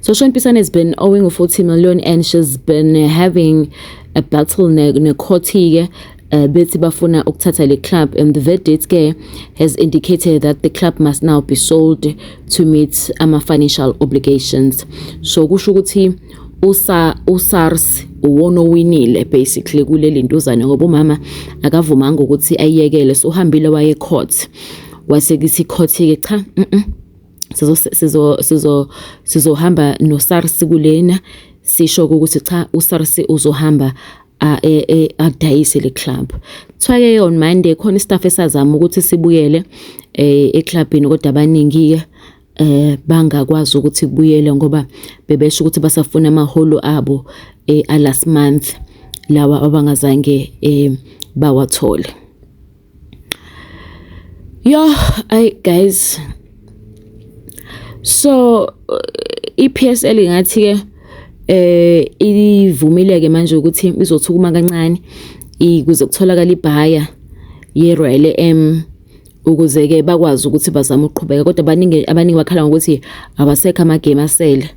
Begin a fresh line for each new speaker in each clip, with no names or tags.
So Sean Pisane has been owing a 40 million and she's been having a battle nekhotike uh, bethi bafuna ukuthatha le club and the verdict ke has indicated that the club must now be sold to meet ama financial obligations so kusho ukuthi usa uSARS uwona owinile basically kuleli ntuzane ngoba umama akavumanga ukuthi ayiyekele so uhambile waye court kwase kithi ikhothi-ke cha mm -mm. sizo sizo sizo sizohamba noSARS kulena sisho ukuthi cha uSARS uzohamba e, e, adayise le club kuthiwa ke on Monday khona istaff esazama ukuthi sibuyele eh eclubini kodwa abaningi ke eh bangakwazi ukuthi kubuyele ngoba bebesho ukuthi basafuna amaholo abo eh last month lawa abangazange eh bawathole Yoh ay guys so uh, iPSL ngathi ke eh ivumile ke manje ukuthi izothukuma kancane ikuze kutholakala ibhaya ye Royal M ukuze ke bakwazi ukuthi bazame ukuqhubeka kodwa baningi abaningi bakhala ngokuthi abasekho ama game asele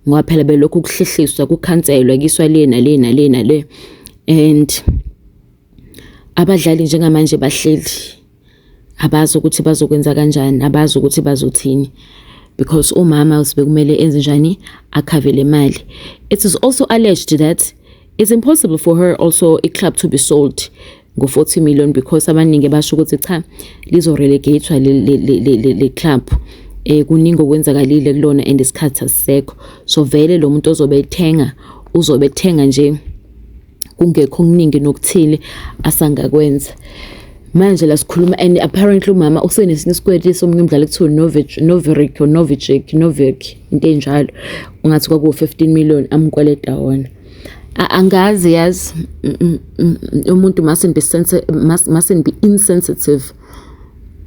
ngoba phela belokhu kuhlehliswa kukhanselwa kiswa lena lena lena le and Abadlali njengamanje bahleli abazi ukuthi bazokwenza kanjani, abazi ukuthi bazothini because umama bekumele enze njani akhave le mali. It is also alleged that it's impossible for her also i-club to be sold ngo-40 million because abaningi basho ukuthi cha lizo-relegatwa le club eh kuningi okwenzakalile kulona and isikhathi asisekho so vele lo muntu ozobe ethenga uzobe ethenga nje kungekho okuningi nokuthile asangakwenza manje la sikhuluma and apparently umama usenesinye isikweleti somunye umdlali kuthiwa noveric or novichik novic into enjalo ungathi kwakuwu-15 million amkweleta wona angazi yazi umuntu mustn't be insensitive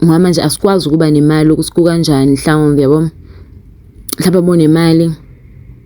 ngoba manje asikwazi ukuba nemali ukuthi kukanjani mhlawumbe yabo mhlawumbe abonemali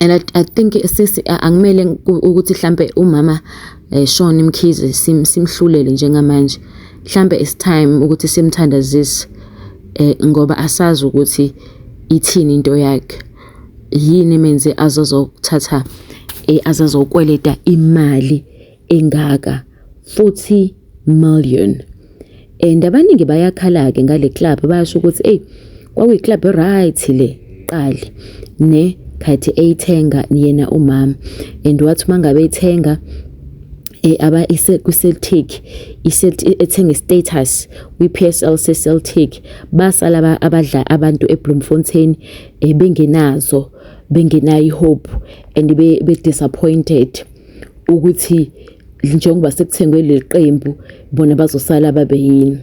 and I, I think sisi angimele ukuthi mhlambe umama eshona eh, imkhize simhlulele njengamanje mhlambe it's time ukuthi simthandazise eh ngoba asazi ukuthi ithini into yakhe yini menze azozothatha eh, azazokweleta imali engaka futhi million and abaningi bayakhala-ke ngale club bayasho ukuthi eyi kwakuyiclub right le qali ne khathi eyithenga yena umama and wathi uma ngabe ethenga eh aba ise ku Celtic ethenga status kwi PSL se Celtic basala abadla abantu eBloemfontein eh, bengenazo bengenayi hope and be, be disappointed ukuthi njengoba sekuthengwe leli qembu bona bazosala babe yini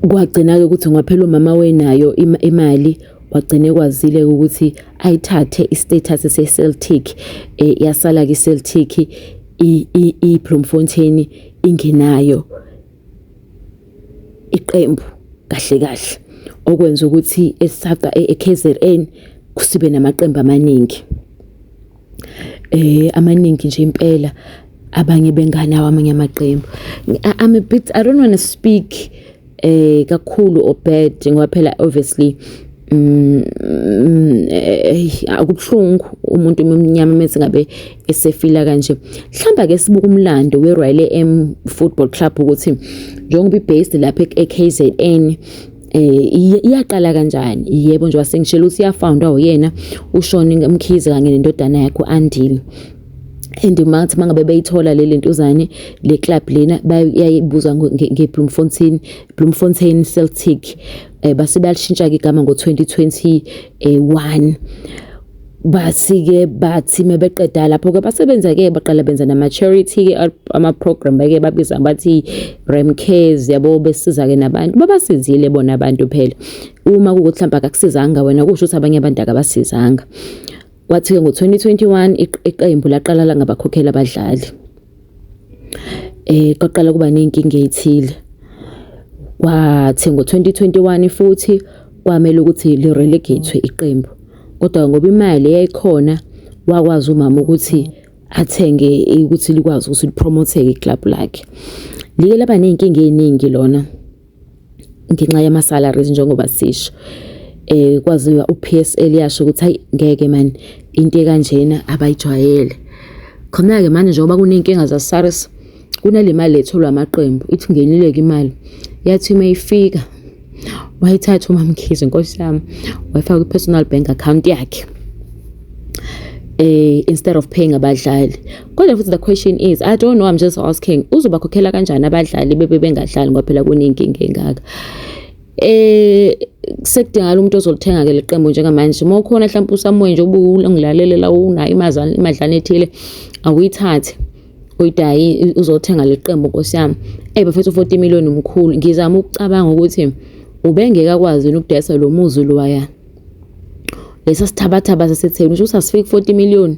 kwagcina-ke ukuthi ngaphela umama wenayo imali wagcina ekwazile ukuthi ayithathe i-status se-celtic um yasala-ke i-celtic i-bloemfontein ingenayo iqembu kahle kahle okwenza ukuthi eSACA eKZN sibe namaqembu amaningi. Amaningi nje impela abanye benganawo amanye amaqembu. I'm a bit I don't wanna speak kakhulu or bad ngoba phela obviously kubuhlungu umuntu omnyama uma ngabe. esefila kanje mhlamba ke sibuka umlando weRoyal M Football Club ukuthi njengoba ibase lapha eKZN eh iyaqala kanjani yebo nje wasengishela ukuthi iyafoundwa uyena ushone ngemkhize kanye nendodana yakhe uAndile and mathi mangabe beyithola le lentuzane le club lena bayayibuza ngeBloemfontein Bloemfontein Celtic eh base bayalishintsha ke igama ngo2021 Bathi-ke bathi mebeqeda lapho-ke basebenza-ke baqala benza nama-charity-ke ama-program bake babiza bathi Ram Cares yabo besiza-ke nabantu babasizile bona abantu phela uma kukuthi mhlawumbe akakusizanga wena kusho ukuthi abanye abantu akabasizanga kwathi-ke ngo-2021 iqembu laqala langabakhokhela abadlali eh kwaqala kuba nezinkinga ezithile kwathi ngo-2021 futhi kwamele ukuthi li-relegate-we iqembu kodwa ngoba imali yayikhona wakwazi umama ukuthi athenge ukuthi likwazi ukuthi lipromotheke iklabhu lakhe like laba ney'nkinga ey'ningi lona. ngenxa yama salaries njengoba sisho eh kwaziwa uPSL yasho ukuthi hayi ngeke man into ekanjena abayijwayele khona ke manje njengoba kunenkinga za SARS kunalemali etholwa amaqembu ithi ngenile ke imali yathi mayifika wayithatha umamkhize inkosi yami wayifaka kwi personal bank account yakhe eh instead of paying abadlali Kodwa futhi the question is I don't know I'm just asking uzobakhokhela kanjani abadlali bebe bengadlali ngoba phela kunenkinga engaka eh sekudingala umuntu ozolithenga ke leqembu njengamanje uma ukhona mhlawumbe usamuwe nje ubungilalelela unayo imazana imadlana ethile awuyithathe uyidayi uzothenga leqembu nkosi yami eh bafethu 40 million umkhulu ngizama ukucabanga ukuthi ubengeke akwazi ukudayisa lo muzi loya lesa sithabathaba sasetheni usho ukuthi asifiki 40 million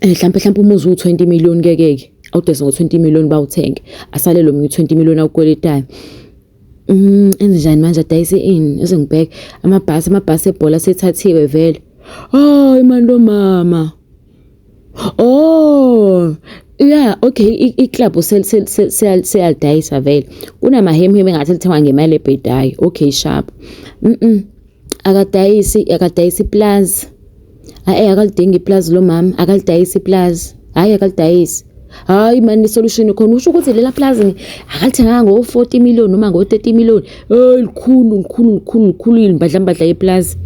Eh, mhlawumpe mhlawumpe uma uzu 20 million ngeke ke awudese ngo 20 million bawuthenge asale lo munye 20 million awukweletayo mm enze njani manje adayise ini eze ngibheke amabhasi amabhasi ebhola sethathiwe vele hayi manje lo mama oh Yeah, okay, i-club seyalidayisa vele. Kunamahemheme engathi lithengwa ngemali ebhedayo. Okay, sharp. Mhm. Akadayisi, akadayisi ipulazi. Ayi akalidingi ipulazi lo mama, akalidayisi ipulazi. Hhayi akalidayisi. Hhayi mani isolushini khona usho ukuthi lela pulazi akalithenganga ngo-forty million noma ngo-thirty million. Hheyi likhulu, likhulu, likhulu, likhulu imbadlambadla yepulazi.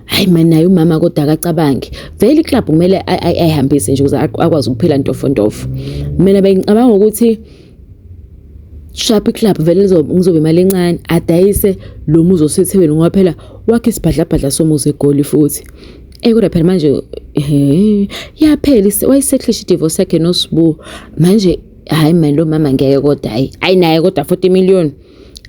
Hhayi mani naye umama kodwa akacabangi. Vele iklabhu kumele ayihambise nje ukuze akwazi ukuphila ntofontofo. Mina bengicabanga ukuthi. Shaphi Club vele ngizobe imali encane adayise lo muzi osethekwini ngoba phela wakhe isibhadlabhadla somuzi egoli futhi Ey kodwa phela manje eh yaphela wayisekhlisha idivorce yakhe noSbu manje hayi manje lo mama ngeke kodwa hayi hayi naye kodwa 40 million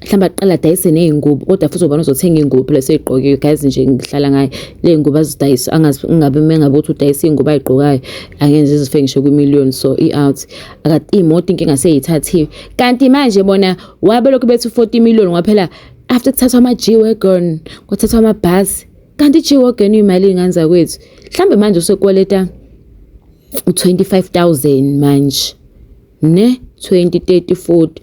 mhlawumbe aqala adayise ney'ngubo kodwa futhi ubona uzothenga iy'ngubo phela seyigqokiwe guys nje ngihlala ngayo le ngubo azidayisa angazi ungabe uma engabe uthi udayisa iy'ngubo ayigqokayo angenze izife ngisho kwi-million so i-out akathi iy'moto inkinga seyithathiwe kanti manje bona wabe lokhu bethi u-forty million kwaphela after kuthathwa ama-g-wagon kwathathwa amabhasi kanti i-g-wagon imali ingane zakwethu mhlawumbe manje usekweleta u-twenty five thousand manje ne-twenty thirty forty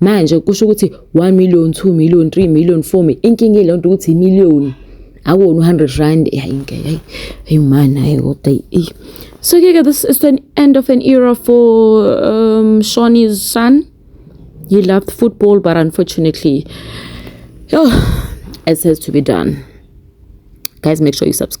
manje kusho ukuthi 1 million 2 million 3 million 4 million inkinga ile nto ukuthi imillion akuwona u-100 rand hayi ngeke hayi hayi mani hayi kodwa eyi so ke-ke this is the end of an era for um, shawnee's son he loved football but unfortunately oh, it has to be done guys make sure you subscribe